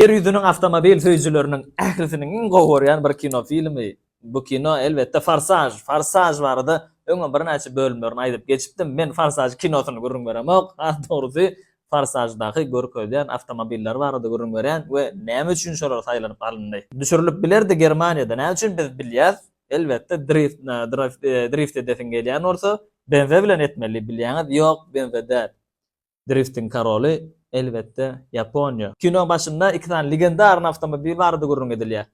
Ýer ýüzüniň awtomobil söýüjileriniň ählisiniň iň gowy görýän bir kino filmi, bu kino, elbetde, Forsaž. Forsaž barada öňem birnäçe bölümlerini aýdyp geçipdim. Men Forsaž kinosyny gürrüň beremok, has dogrusy, Forsaždaky görkezýän awtomobiller barada gürrüň berýän we näme üçin şolar saýlanyp alyndy. Düşürilip bilerdi Germaniýada, näme üçin biz bilýäs, elbetde, drift, drift edesiň gelýän bolsa, BMW bilen etmeli, bilýäňiz, ýok, BMW däl. Driftiň koroly, elbetde, Ýaponiýa. Kinoň başynda iki sany legendarny awtomobil barada gürrüň edilýär.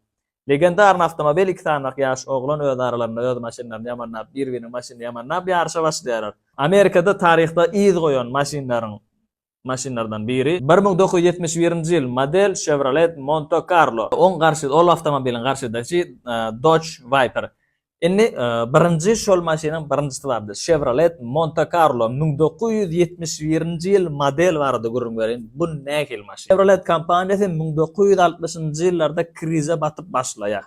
Legendarny awtomobil iki sanyrak ýaş oglan öz aralarynda öz maşynlaryny ýamanlap, bir-biriniň maşynyny ýamanlap ýaryşa başlaýarlar. Amerikada taryhda yz goýan maşynlaryň maşynlardan biri, bir müň dokuz ýüz ýetmiş birinji ýyl model Chevrolet Monte-Carlo. Oň garşy ol awtomobiliň garşydaşy Dodge Viper. Indi birinji şol maşynyň birinjisi bardy. Chevrolet Monte Carlo müň dokuz ýüz ýetmiş birinji ýyl model barada gürrüň bereýin. Bu nähili maşyn? Chevrolet kompaniýasy müň dokuz ýüz altmyşynjy ýyllarda krize batyp başlaýar.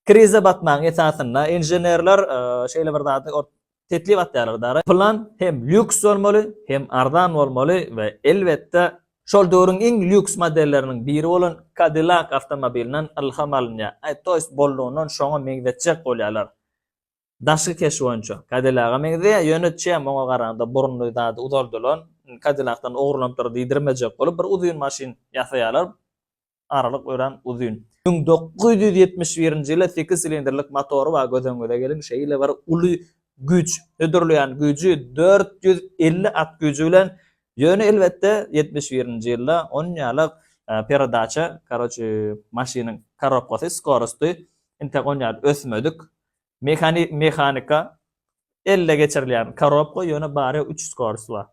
Krize batmagyň esasynda inženerler şeýle bir zady teklip atýarlar dara. Plan hem lýuks bolmaly, hem arzan bolmaly we elbetde şol döwrüň iň lýuks modelleriniň biri bolan Cadillac awtomobilinden ylham alynýar. Aý toýs bollugyndan şoňa meňzetjek bolýarlar. Daşky keşbi boýunça Cadillac-a meňzeýär, ýöne çem oňa garanda burunly zady uzaldylan, Cadillac-dan ogurlanypdyr diýdirmejek bolup bir uzyn maşyn ýasaýarlar. aralyk örän uzyn. Müň dokuz ýüz ýetmiş birinji ýyla sekiz silindrlik motory bar, göz öňüňize geliň, şeýle bir uly güýç, hödürleýän güýji dört ýüz elli at güýji bilen, ýöne elbetde ýetmiş birinji ýylda on ýalyk peredaça, karoçi, maşynyň korobkasy, skorosty entek on ýaly ösmedik, mehanika, elle geçirilýän korobka, ýöne bary üç skorost bar.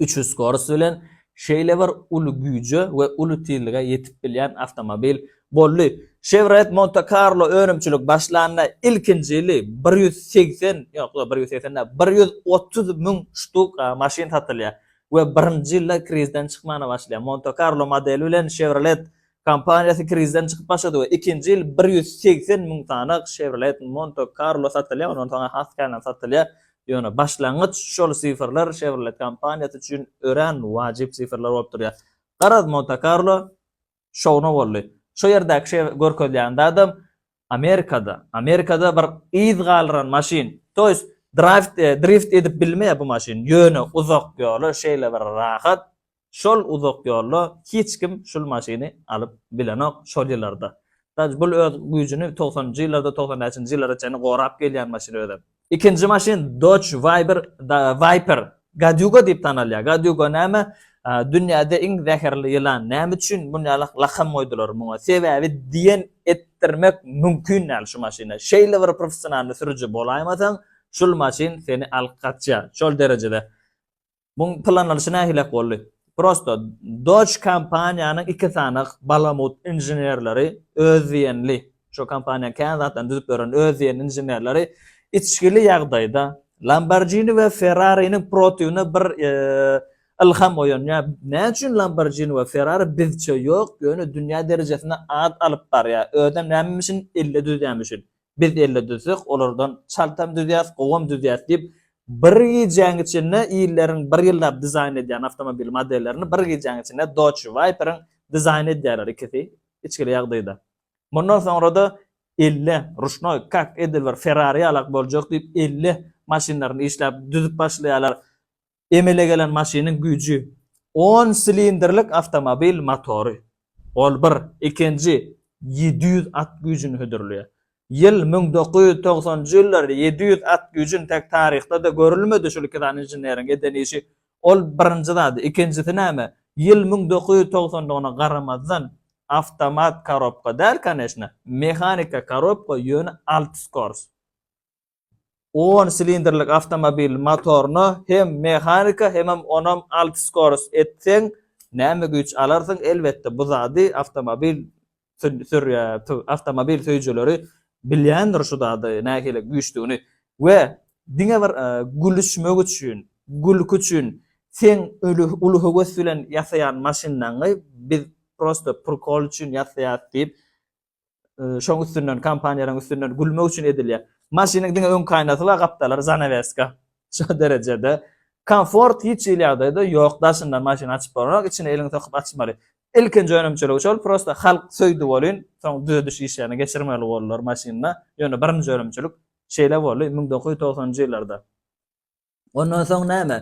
Üçüs skorost bilen şeýle bir uly güýje we uly tizlige ýetip bilýän awtomobil boldy. Chevrolet Monte Carlo önümçilik başlanda ilkinji ýyly bir ýüz segsen, ýok, bir ýüz segsen däl, bir ýüz otuz müň ştuk maşyn satylýar we birinji ýylda krizden çykmana başlaýar. Monte Carlo modeli bilen Chevrolet Kompaniýasy krizden çykyp başlady we ikinji ýyl bir ýüz segsen müň sany Chevrolet Monte Carlo satylýar, ondan soň has känäm satylýar. Ýöne başlangyç şol sifrler Chevrolet kompaniýasy üçin örän wajyp sifrler bolup durýar. Garaz Monte Carlo şowuna boldy. Şu ýerdäki görkezýän zadam Amerikada, Amerikada bir yz galdyran maşyn. Toys draft drift edip bilmeýär bu maşyn. Ýöne uzak ýola şeýle bir rahat. Şol uzak ýolda hiç kim şul maşyny alyp bilenok şol ýyllarda. Daş bul öz güýjüni togsanynjy ýyllarda togsan bäşinji ýyllara çenli gorap gelýän maşyn özem. Ikinji maşyn Dodge Viper, Viper. Gadyuga diýip tanalýar. Gadyuga näme? Dünýäde iň zäherli ýylan. Näme üçin muny ýaly lakam goýdular muňa? Sebäbi diýen etdirmek mümkin däl şu maşyna. Şeýle bir professionalny sürüji bolaýmasaň, şul maşyn seni alyp gaçýar. Şol derejede Muň planlaryşy nähilek boldy? Prosto, Doge kompaniýanyň iki sany balamut inženerleri, öz diýenli, şo kompaniýa kän zatlaryny düzüp beren öz diýenli inženerleri içgili ýagdaýda Lamborghini we Ferrariniň protiwine bir ylham oýanýar. Näme üçin Lamborghini we Ferrari bizçe ýok, ýöne dünýä derejesinde at alyp barýar? Özem näme mişin elle düzýärmişin? Biz elle düzsek, olardan çaltam düzýäris, gowam düzýäris diýip, bir gijäň içinde illeriň bir ýyllap dizaýn edýän awtomobil modellerini bir gijäň içinde Dodge Viper-iň dizaýn edýärler ikisi içgili ýagdaýda. Mundan soňra-da elle, ruşnoý, kak edil bir Ferrari ýalak boljak diýip, elle maşynlaryny işläp düzüp başlaýarlar. emele gelen maşynyň güýji, on silindrlik awtomobil motory, ol bir, ikinji, ýedi ýüz at güýjüni hödürleýär. Ýyl müň dokuz ýüz togsanjy ýyllar ýedi ýüz at güýjün tek taryhda-da görülmedi şul iki sany inženeriň eden işi, ol birinji zady, ikinjisi näme, ýyl müň dokuz ýüz togsandygyna garamazdan, awtomat korobka däl, koneşna, mehanika korobka, ýöne alty skors. on silindrlik awtomobil motoryna hem mehanika hemem onam alty skorost etseň näme güýç alarsyň elbetde bu zady awtomobil awtomobil söýüjileri bilýändir şu zady nähili güýçdügini we diňe bir gülüşmek üçin gülki üçin seň uly höwes bilen ýasaýan maşynyňy biz prosto prikol üçin ýasaýas diýip şoň üstünden kompaniýalaryň üstünden gülmek üçin edilýär. Maşynyň diňe öňki aýnasy bar, gapdalary zanaweska. Şu derejede. Komfort hiç hili ýagdaýda ýok. Daşyndan maşyny açyp bolanok, içine eliňi sokup açmaly. Ilkinji önümçiligi şol, prosta halk söýdi welin, soň düzediş işlerini geçirmeli boldular maşynda. Ýöne birinji önümçilik şeýle boldy, müň dokuz ýüz togsanynjy ýyllarda. Ondan soň näme?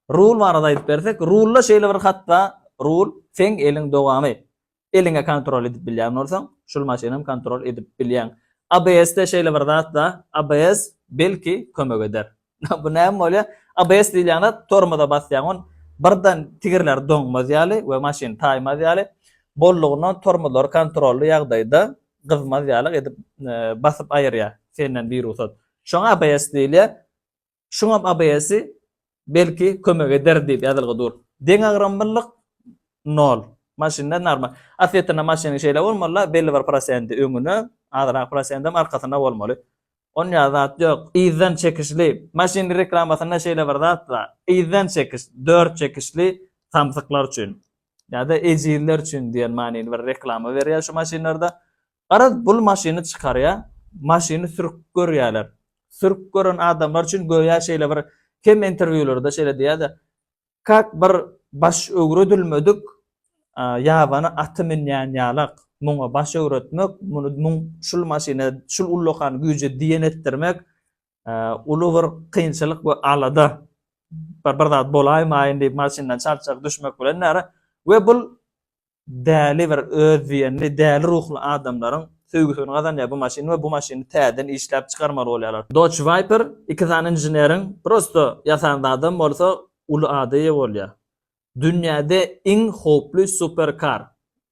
Rul barada aýdyp bersek, rulda şeýle bir hat bar, rul seň eliň dowamy. Eliňe kontrol edip bilýän bolsaň, şul maşynam kontrol edip bilýäň. ABS-de şeýle bir zat bar, ABS belki kömek eder. Bu näme bolýar? ABS diýilýän zat tormoza basýaň, ol birden tigirleri doňmaz ýaly we maşyn taýmaz ýaly, bollugyndan tormozlary kontrolly ýagdaýda gyzmaz ýaly edip basyp aýyrýar senden birugsat. Şoňa ABS diýilýär. Şuňam ABS-i, belki, kömek eder diýip ýazylgy dur. Deňagramlylyk nol. Maşynda normal. Aslyýetinde maşynyň şeýle bolmaly-la, belli bir prosenti öňüne, azrak prosendem arkasyna bolmaly. Onýa zat ýok. Yzdan çekişli. Maşynyň reklamasynda şeýle bir zat bar. Yzdan çekiş, dört çekişli samsyklar üçin. Ýa-da ejizler üçin diýen manyly bir reklama berýär şu maşynlarda. Garaz, bul maşyny çykarýar, maşyny sürk görýärler. Sürk gören adamlar üçin göýä şeýle bir kem interwýulerde şeýle diýýär-de, Kak bir baş öwredilmedik ýabany aty münýän ýalak, muňa baş öwretmek, muny muň şul maşyna, şul ullakan güýje diýen etdirmek uly bir kynçylyk we alada. Bir zat bolaýmaýyn diýip maşyndan çalt-çalt düşmek bilen näre we bul Däli bir özdiýenli, däli ruhly adamlaryň söýgüsini gazanýar bu maşyn we bu maşyny täzeden işläp çykarmaly bolýarlar. Dodge Viper iki sany inženeriň prosto ýasan zadam bolsa uly ada eýe bolýar. Dünýäde iň howply superkar,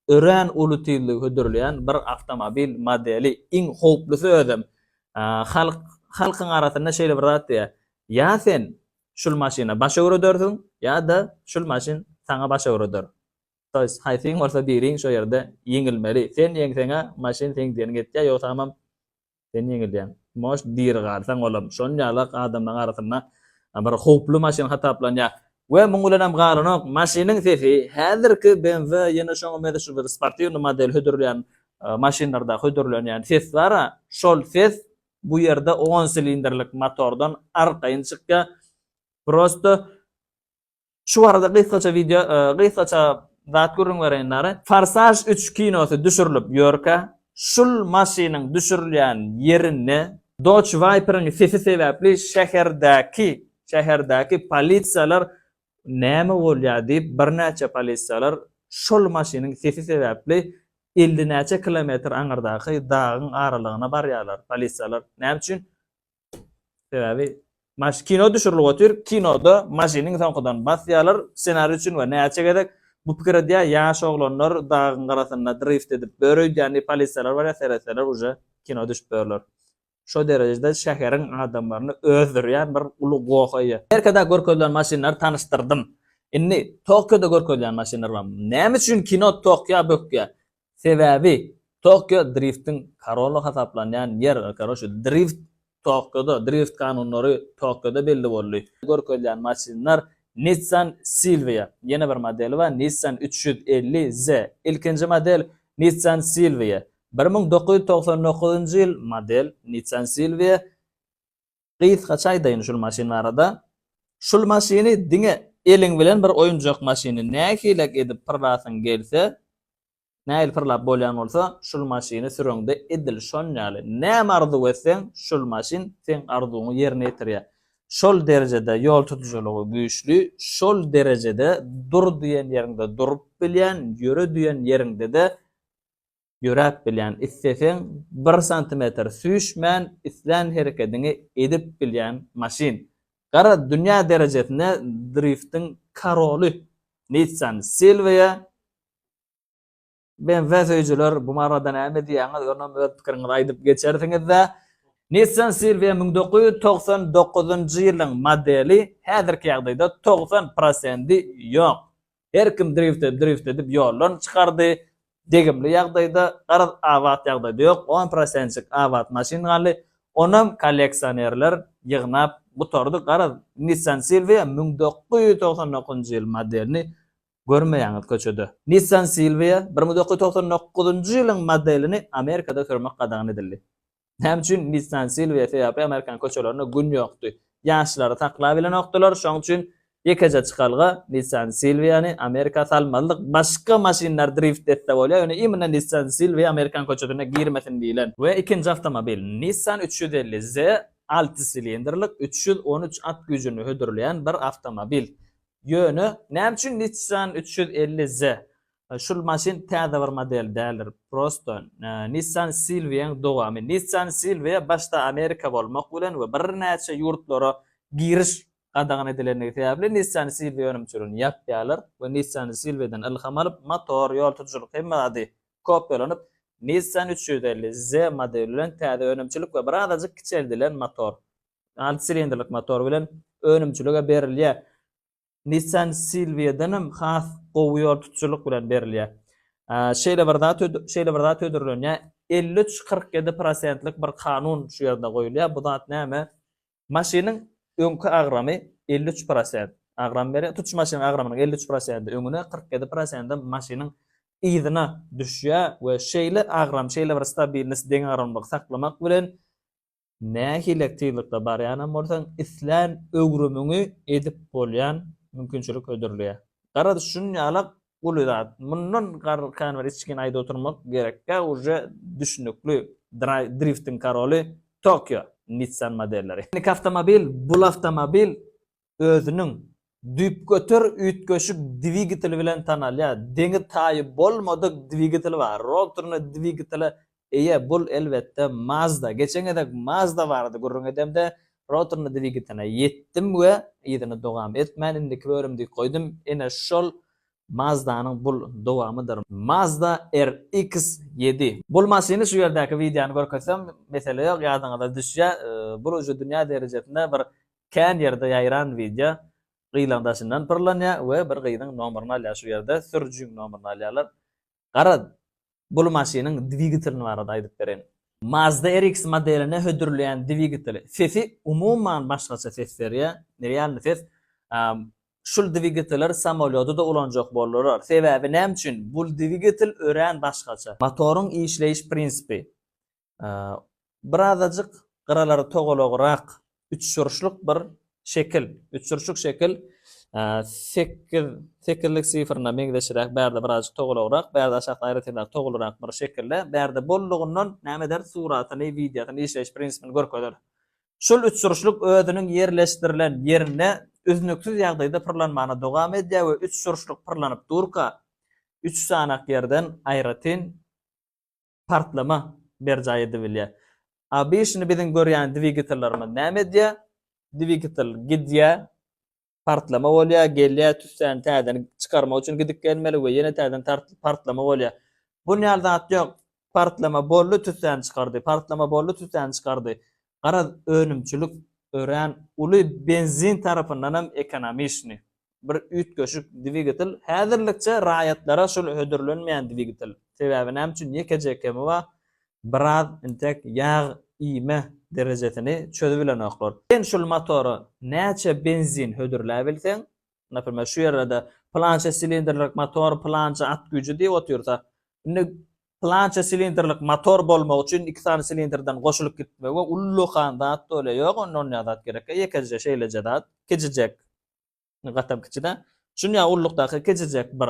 örän uly tizligi hödürleýän bir awtomobil modeli, iň howplusy özem. Halk halkyň arasynda şeýle bir zat diýýär, ýa sen şul maşyna baş öwredersiň, ýa-da şul maşyn saňa baş öwreder. Toys, haýsyň bolsa biriň şo ýerde ýeňilmeli. Sen ýeňseň-ä, maşyn seň diýeniňi etýär, ýogsamam sen ýeňilýäň. Most diri galsaň, olam şon ýalak adamlaryň arasynda bir howply maşyn hasaplanýar. We muň bilenem galanok, maşynyň sesi häzirki BMW, ýene şoňa mezeşi bir sportiwnyý model hödürleýän maşynlarda hödürlenýän ses bar-a, şol ses bu ýerde on silindrlik motordan arkaýyn çykýar. Prosto Şu barada gysgaça wideo gysgaça zat gürrüň bereýin dary. Forsaž üç kinosy düşürilip ýörkä, şul maşynyň düşürilýän ýerinde Dodge Viper-iň sesi sebäpli şäherdäki şäherdäki polisiýalar näme bolýar diýip birnäçe polisiýalar şul maşynyň sesi sebäpli elli näçe kilometr aňyrdaky dagyň aralygyna barýarlar polisiýalar näme üçin Sebäbi maş kino düşürilip otyr, kinoda maşynyň soňkudan basýarlar, ssenari üçin we näçe gezek bu pikir edýär, ýaş oglanlar dagyň garasynda drift edip bör öýdýär, indi polisiýalar barýar, seretseler uje kino düşüp börler. Şo derejede şäheriň adamlaryny özdürýän bir uly goh eýe. Merkezde görkezilen maşynlary tanyşdyrdym. Indi Tokioda görkezýän maşynlar bar. Näme üçin kino Tokio bökýär? Sebäbi Tokio driftiň koroly hasaplanýan ýer, karoçe, drift Tokioda, drift kanunlary Tokioda belli boldy. Görkezýän maşynlar Nissan Silvia, ýene bir modeli bar Nissan üç ýüz elli Z, ilkinji model Nissan Silvia, bir müň dokuz ýüz togsan dokuzynjy ýyl model Nissan Silvia, Gysgaça aýdaýyn şul maşyn barada. Şul maşyny diňe eliň bilen bir oýunjak maşyny nähilek edip pyrlasyň gelse, nähili pyrlap bolýan bolsa, şul maşyny süreňde edil şon ýaly. Näme arzuw etseň, şul maşyn seň arzuwyňy ýerine ýetirýär. Şol derejede ýol tutujylygy güýçli, şol derejede dur diýen ýeriňde durup bilýän, ýöre diýen ýeriňde-de ýöräp bilýän, isleseň bir santimetr süýşmän islän herekediňi edip bilýän maşyn. Gara dünýä derejesinde driftiň karoly Nissan Silvia. BMW söýüjiler bu barada näme diýýäňiz? Ýöne öz pikiriňizi aýdyp geçersiňiz-dä. Nissan Silvia müň dokuz ýüz togsan dokuzynjy ýylyň modeli, häzirki ýagdaýda togsan prosendi ýok. Her kim drift edip drift edip ýoldan çykardy. Degimli ýagdaýda garaz abat ýagdaýda ýok on prosentik abat maşyn galdy. Onam kolleksionerler ýygnap gutardy. Garaz Nissan Silvia müň dokuz ýüz togsan dokuzynjy ýyl modelini görmeýäňiz köçede. Nissan Silvia bir müň dokuz ýüz togsan dokuzynjy ýylyň modelini Amerikada sürmek gadagan edildi. Näme üçin Nissan Silvia sebäpli amerikan köçelerinde gün ýokdy? Ýaşlary saklabilenokdylar, şoň üçin ýekeje çykalga Nissan Silviany Amerika salmazlyk, başga maşynlar drift etse bolýar, ýöne imенно Nissan Silvia amerikan köçesine girmesin diýlen. We ikinji awtomobil Nissan üç ýüz elli Z alty silindrlik üç ýüz on üç at güýjüni hödürleýän bir awtomobil. Ýöne näme üçin Nissan üç ýüz elli Z? Şul maşyn täze bir model däldir prosto Nissan Silviaň dowamy. Nissan Silvia başda Amerika bolmak bilen we birnäçe ýurtlara giriş gadagan edilendigi sebäpli Nissan Silvia önümçiligini ýapýarlar we Nissan Silviadan ylham alyp motor, ýol tutujulyk hemme zady kopýalanyp Nissan üç ýüz elli Z modeli bilen täze önümçilik we bir azajyk kiçeldilen motor alty silindrlik motor bilen önümçilige berilýär. Nissan Silvia-danam has gowy ýol tutujylyk bilen berilýär. Şeýle bir zat şeýle bir zat hödürlenýär, elli üç, kyrk ýedi prosentlik bir kanun şu ýerde goýulýar. Bu zat näme? Maşynyň öňki agramy elli üç prosent agram berýär. Tutuş maşynyň agramynyň elli üç prosenti öňüne, kyrk ýedi prosenti maşynyň yzyna düşýär we şeýle agram, şeýle bir stabilnost, deňagramlylygy saklamak bilen Nähili tyzlykda barýanam bolsaň, islän öwrümiňi edip bolýan mümkinçilik hödürleýär. Garaz, şunýalak uly zat. Mundan kän bir içgin aýda oturmak gerekkä uje düşnükli driftiň karoly Tokio Nissan modelleri. Indi kawtomobil bul awtomobil özüniň düýpgöter üýtgeşik dwigateli bilen tanalýar. Deňi-taýy bolmadyk dwigatel bar. Rotorly dwigatele eýe bul elbetde Mazda. Geçen gezek Mazda barada gürrüň edemde rotorly dwigatele ýetdim we yzyny dowam etmän indiki bölüm diýip goýdum. Ine şol Mazdanyň bul dowamydyr. Mazda RX ýedi. Bul maşyny şu ýerdäki wideony görkezsem mesele ýok ýadyňyza düşýär. Bul uje dünýä derejesinde bir Kän ýerde ýaýran wideo gyzyň daşyndan pyrlanýa we bir gyzyň nomeryny alýa şu ýerde sürüjiň nomeryny alýalar. Garaz bul maşynyň dwigitlini barada aýdyp bereýin. Mazda RX modeline hödürleýän dwigiteli. Sesi umuman başgaça ses berýä. Realny ses. Şul dwigiteler samolýodyda ulanjak boldular. Sebäbi näme üçin? Bul dwigitel örän başgaça. Motoryň işleýiş prinsipi. Birazajyk gyralary togalagrak üçburçluk bir şekil. Üçburçluk şekil sekiz, sekizlik sifrine meňzeşiräk, bärde birazajyk togalagrak, bärde aşakda aýratynrak togalyrak bir şekilde, bärde bollugyndan näme eder, suratyny, wideosyny, işleýiş prinsipini görkezer. Şul üçburçluk özüniň ýerleşdirilen ýerinde üznüksiz ýagdaýda pyrlanmana dowam edýär we üçburçluk pyrlanyp durka, üç sanak ýerden aýratyn partlama berjaý edibilýär. Obişini biziň görýän dwigatellarymyz näme edýär? Dwigatel gidýär, partlama bolýar, gelýär, tüssäni täzeden çykarmak üçin gidip gelmeli we ýene täzeden partlama bolýar. Bunýaly zat ýok. Partlama boldy, tüssäni çykardy, partlama boldy, tüssäni çykardy. Garaz, önümçilik örän uly benzin tarapyndanam ekonomiçni. Bir üýtgeşik dwigatel, häzirlikçe raýatlara şol hödürlenmeýän dwigatel. Sebäbi näme üçin ýekeje kemi bar, biraz entek ýag iýme derejesini çözübilenoklar. Sen şol motora näçe benzin hödürläbilseň, Naprimer, şu ýerde-de pylança silindrlik motor, pylança at güýji diýip otyrsa, indi pylança silindrlik motor bolmagy üçin iki sany silindrden goşulyp gitmegi we ullakan zat bolýar. Ýok, onda onýa zat gerekkä, ýekeje şeýleje zat, kiçijek, gatam kiçi-dä, şunýa ullukdaky kiçijek bir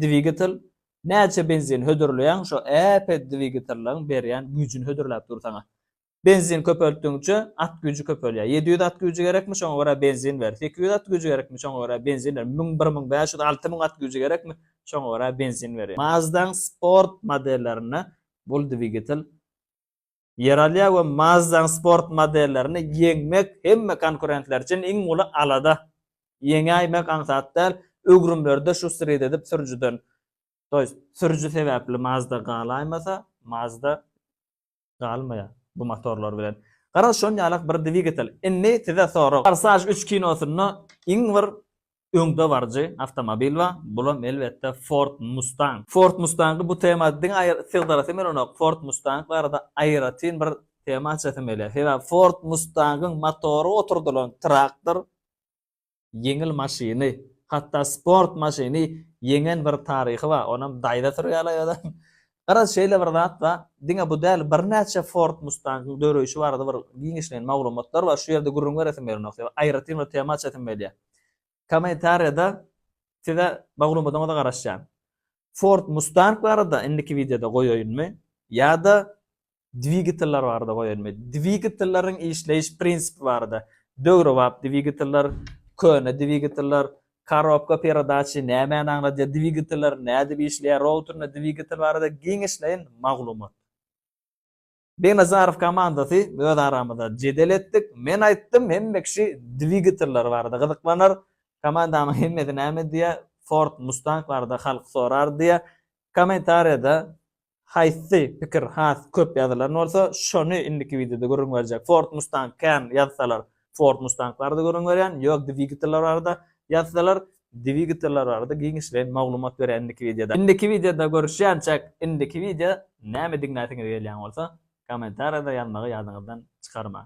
dwigatel näçe benzin hödürleýäň, şo äpet dwigatelligiň berýän güýjüni hödürläp dur saňa. Benzin köpeltdigiňçe at güýji köpelýär. Ýedi ýüz at güýji gerekmi, şoňa görä benzin ber. Sekiz ýüz at güýji gerekmi, şoňa görä benzin ber. Müň, bir müň bäş ýüz, alty müň at güýji gerekmi, şoňa görä benzin ber. Mazda-nyň sport modellerinde bul dwigatel ýer alýar we Mazda-nyň sport modellerini ýeňmek hemme konkurentler üçin iň uly alada. Ýeňäýmek aňsat däl, öwrümlerde şu srid edip sürüjiden, to ýest sürüji sebäpli Mazda galaýmasa, Mazda galmaýar bu motorlar bilen. Garaz şon ýalak bir dwigatel. Indi size sorag. Forsaj üç kinosynda iň bir öňde baryjy awtomobil bar. Bulam elbetde Ford Mustang. Ford Mustangy bu tema diňe aýr sygdyrasym gelenok. Ford Mustang barada aýratyn bir tema açasym gelýär. Sebäbi Ford Mustangyň motory oturdylan traktor. ýeňil maşyny, hatda sport maşyny ýeňen bir taryhy bar, onam daýza sürýärler ýa-da. Garaz, şeýle bir zat bar, diňe bu däl, birnäçe Ford Mustang-yň döreýşi barada bir giňişleýin maglumatlar bar, şu ýerde gürrüň beresim gelenok, sebäbi aýratyn bir tema açasyň gelýär. Kommentariýada size maglumadaňyza garaşýan. Ford Mustang barada indiki wideoda goýaýynmy ýa-da dwigateller barada goýulmy? Dwigatelleriň işleýiş prinsipi barada, döwrebap dwigateller, köne dwigateller, korobka peredaçy nämäni aňladýar, dwigateller nädip işleýär, routerinde dwigatel barada giňişleýin maglumat. Begnazarow komandasy öz aramyzda jedel etdik. Men aýtdym, hemme kişi dwigateller barada gyzyklanar, komandamyň hemmesi näme diýýär, Ford Mustang barada halk sorar diýýär. Kommentariýada Haýsy pikir has köp ýazylan bolsa, şony indiki wideoda gürrüň berjek. Ford Mustang kän ýazsalar, Ford Mustang barada gürrüň berýän, ýok dwigateller barada ýazsalar, dwigateller barada giňişleýin maglumat berýän indiki wideoda. Indiki wideoda görüşýänçäk, indiki wideo näme diňläsiňiz gelýän bolsa, kommentariýada ýazmagy ýadyňyzdan çykarmaň.